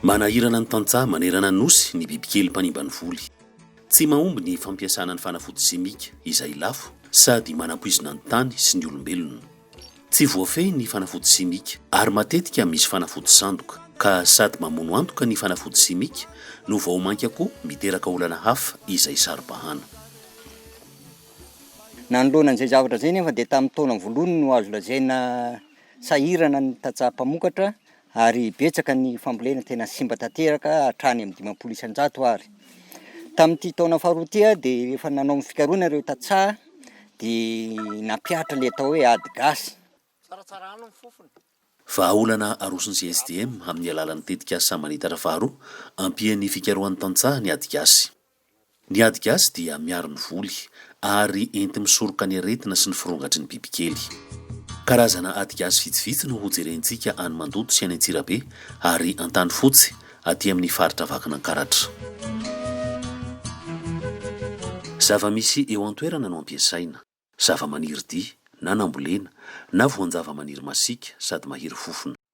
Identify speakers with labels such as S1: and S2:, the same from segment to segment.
S1: Manahirana ny tantsaha manerana Nosy ny bibikely mpanimba ny voly. Tsy mahomby ny fampiasana ny fanafody simika, izay lafo sady manampoizina ny tany sy ny olombelona. Tsy voafehy ny fanafody simika ary matetika misy fanafody sandoka, ka sady mamono antoka ny fanafody simika no vao mainka koa miteraka olana hafa izay saro-bahana.
S2: Nanoloana an'izay zavatra izay anefa dia tamin'ny taona voalohany no azo lazaina sahirana ny tantsaha mpamokatra ary betsaka ny fambolena tena simba tanteraka hatrany amin'ny dimampolo isan-jato ary. Tamin'ity taona faharoa ity aho dia efa nanao ny fikarohana ireo tantsaha dia nampihatra ilay atao hoe ady gasy.
S1: Vahaolana aroson'ny GSDM amin'ny alalan'ny tetikasa Manitatra faharoa, ampian'ny fikarohan'ny tantsaha ny ady gasy. Ny ady gasy dia miaro ny voly ary enti-misoroka ny aretina sy ny firongatry ny bibikely. Karazana ady gasy vitsivitsy no hojerentsika any Mandoto sy any Antsirabe ary Antanifotsy aty amin'ny faritra Vakinankaratra. Zava-misy eo an-toerana no ampiasaina, zava-maniry dia, na nambolena, na voan-java-maniry masiaka sady mahery fofona.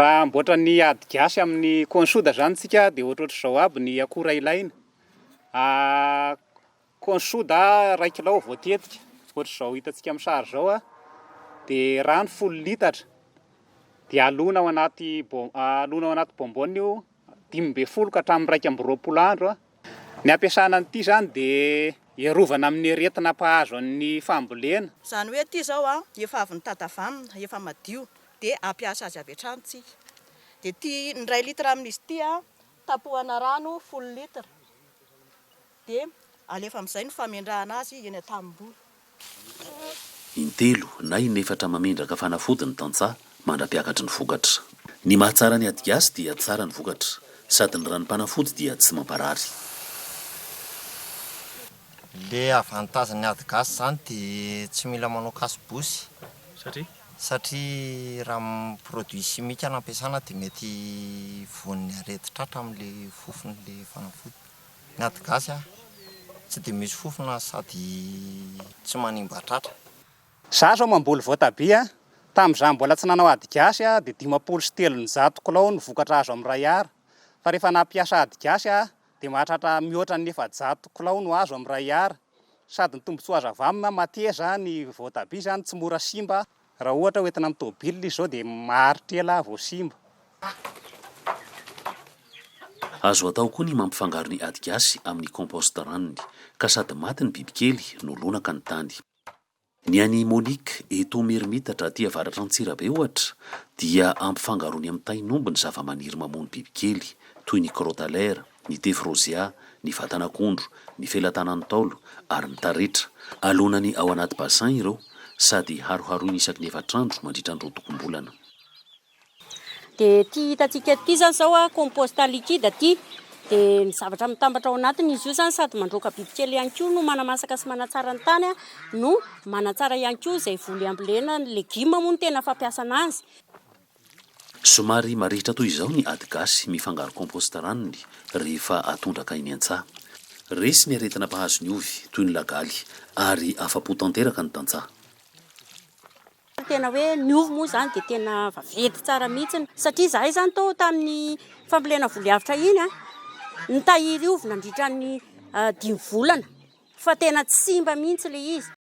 S3: Raha hamboatra ny ady gasy amin'ny konsoda zany tsika dia ohatrohatr'izao aby ny akora ilaina, konsoda iray kilao voatetika ohatr'izao hitantsika amin'ny sary izao a, dia rano folo litatra, dia alona ao anaty bom- alona ao anaty bonbonne io dimy ambin'ny folo ka hatramin'ny iraika amby roapolo andro a, Ny ampiasana an'ity izany dia hiarovana amin'ny aretina mpahazo an'ny fambolena. Izany hoe ity izao
S4: an, efa avy nitadavamina, efa madio, dia hampiasa azy avy hatrany tsika. Dia ity ny iray litre amin'izy ity an, tapohana rano folo litre, dia alefa amin'izay ny famendrahana azy eny an-tanimboly. Intelo
S1: na inefatra Mamindraka fanafody ny tantsaha, mandra-piakatry ny vokatra. Ny mahatsara ny adigasy dia tsara ny vokatra, sady ny ranom-panafody dia tsy mamparary.
S5: Le avantage ny ady gasy zany de tsy mila manao cache bouche satria ra produit chimique no ampiasana de mety voan'ny arety tratra amle fofony le fanafody. Ny ady gasy a! Tsy dia misy fofona sady tsy manimba tratra. Za zao
S3: mamboly voatabia, tamin'izaho mbola tsy nanao ady gasy aho dia dimampolo sy telonjato kilao no vokatra azo amin'ny iray Ar, fa rehefa nampiasa ady gasy aho dia mahatratra mihoatra ny efajato kilao no azo amin'ny iray Ar, sady ny tombotsoa azo avy aminy mateza ny voatabia izany tsy mora simba Raha ohatra ho entina amin'ny tomobilina izy izao dia maharitra ela vao simba.
S1: Azo atao koa ny mampifangaro ny ady gasy amin'ny compost ranony, ka sady maty ny bibikely no lonaka ny tany. Ny an'i Monique, eto Merimitatra aty avaratra Antsirabe ohatra, dia ampifangarony amin'ny tain'omby ny zavamaniry mamono bibikely, toy ny crotalaire, ny tefy rôzea, ny vatan'akondro, ny felatanan'ny Ntaolo ary ny taretra. Alonany ao anaty bassin ireo sady haroharoiny isaky ny efatra andro mandritra ny rotokom-bolana.
S6: Dia ity hitantsika ity izany izao compost liquide ity dia ny zavatra mitambatra ao anatiny izy io izany sady mandroaka bibikely ihany koa no manamasaka sy manatsara ny tany no manatsara ihany koa izay voly ambolena ny legioma moa no tena fampiasana azy.
S1: Somary marihitra toy izao ny ady gasy mifangaro compost ranony rehefa atondraka eny an-tsaha. Resy ny aretina mpahazo ny ovy, toy ny lagaly, ary afa-po tanteraka ny tantsaha. Ny tena
S6: hoe ny ovy moa izany dia tena vaventy tsara mihitsy satria izahay izany tao tamin'ny fambolena voly avotra iny, nitahiry ovy nandritra ny dimy volana fa tena tsy simba mihitsy ilay izy.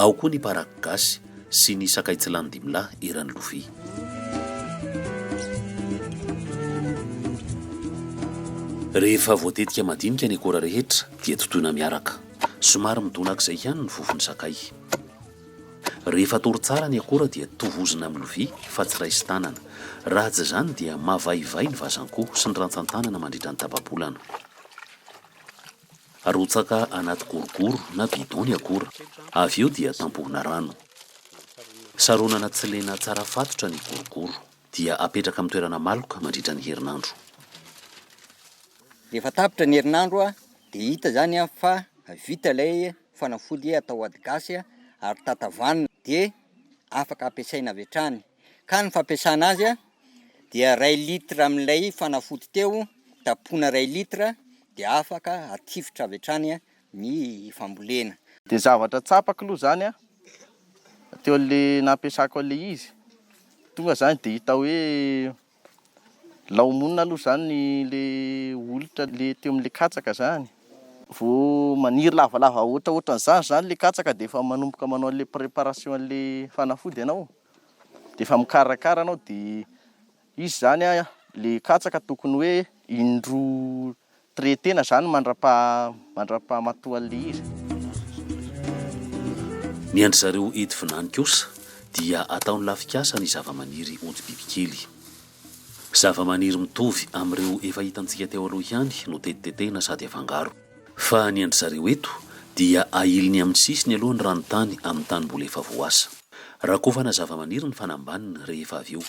S1: Ao koa ny paraky gasy sy ny sakay tsy lany dimy lahy eran'ny lovia. Rehefa voatetika madinika ny akora rehetra dia totoina miaraka. Somary midonak'izay ihany ny vofon'ny sakay. Rehefa atory tsara ny akora dia tovozina amin'ny lovia fa tsy raisi-tanana. Raha tsy izany dia mavaivay ny vazan-ko sy ny rantsan-tanana mandritra ny tapa-bolana. Arotsaka anaty gorogoro na bidon ny akora, avy eo dia tampohina rano. Saronana tsy lena tsara fatotra ny gorogoro, dia apetraka amin'ny toerana maloka mandritra ny herinandro.
S2: Rehefa tapitra ny herinandro dia hita izany fa vita ilay fanafody atao ady gasy ary tatavanina dia afaka ampiasaina avy hatrany. ka ny fampiasana azy dia ray litre amin'ilay fanafody teo tapoina ray litre dia afaka atifitra avy hatrany ny fambolena. Dia zavatra
S7: tsapako aloha izany an, teo an'ilay nampiasako an'ilay izy, tonga izany dia hita hoe. Laomonina aloha zany le olitra le teo amle katsaka zany, vo maniry lavalava ohatraohatran'zany zany le katsaka de efa manomboka manao anle préparation anle fanafody ianao, de efa mikarakara anao de izy zany a le katsaka tokony hoe indroa Très tena zany mandrapaha mandrapaha matoa lery.
S1: Ny an-dry zareo eto Vinany kosa dia ataony lafikasa ny zavamaniry ody bibikely. Zavamaniry mitovy amin'ireo efa hitantsika teo aloha ihany no tetitetehina sady afangaro. Fa ny an-dry zareo eto dia ahiliny amin'ny sisiny aloha ny ranontany amin'ny tanimboly efa voasa. Rakofana zavamaniry ny fanambaniny rehefa avy eo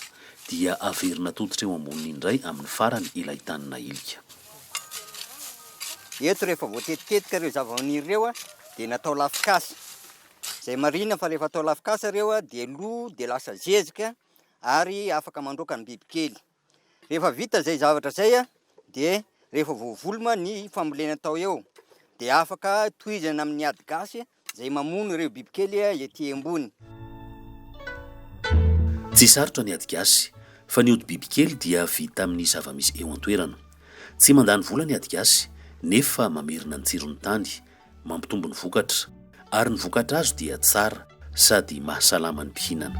S1: Dia averina atoditra eo amboniny indray amin'ny farany ilay tany nahilika.
S2: Eto rehefa voatetitetika ireo zavamaniry ireo dia natao lafikasa. Izay marihina fa rehefa atao lafikasa ireo dia lo dia lasa zezika ary afaka mandroaka ny bibikely. Rehefa vita izay zavatra izay dia rehefa voavoloma ny fambolena atao eo dia afaka tohizana amin'ny ady gasy Izay mamono ireo bibikely ety ambony.
S1: Tsy sarotra ny ady gasy, fa ny ody bibikely dia vita amin'ny zava-misy eo an-toerana. Tsy mandany vola ny ady gasy, nefa mamerina ny tsiron'ny tany, mampitombo ny vokatra, ary ny vokatra azo dia tsara sady mahasalama ny mpihinana.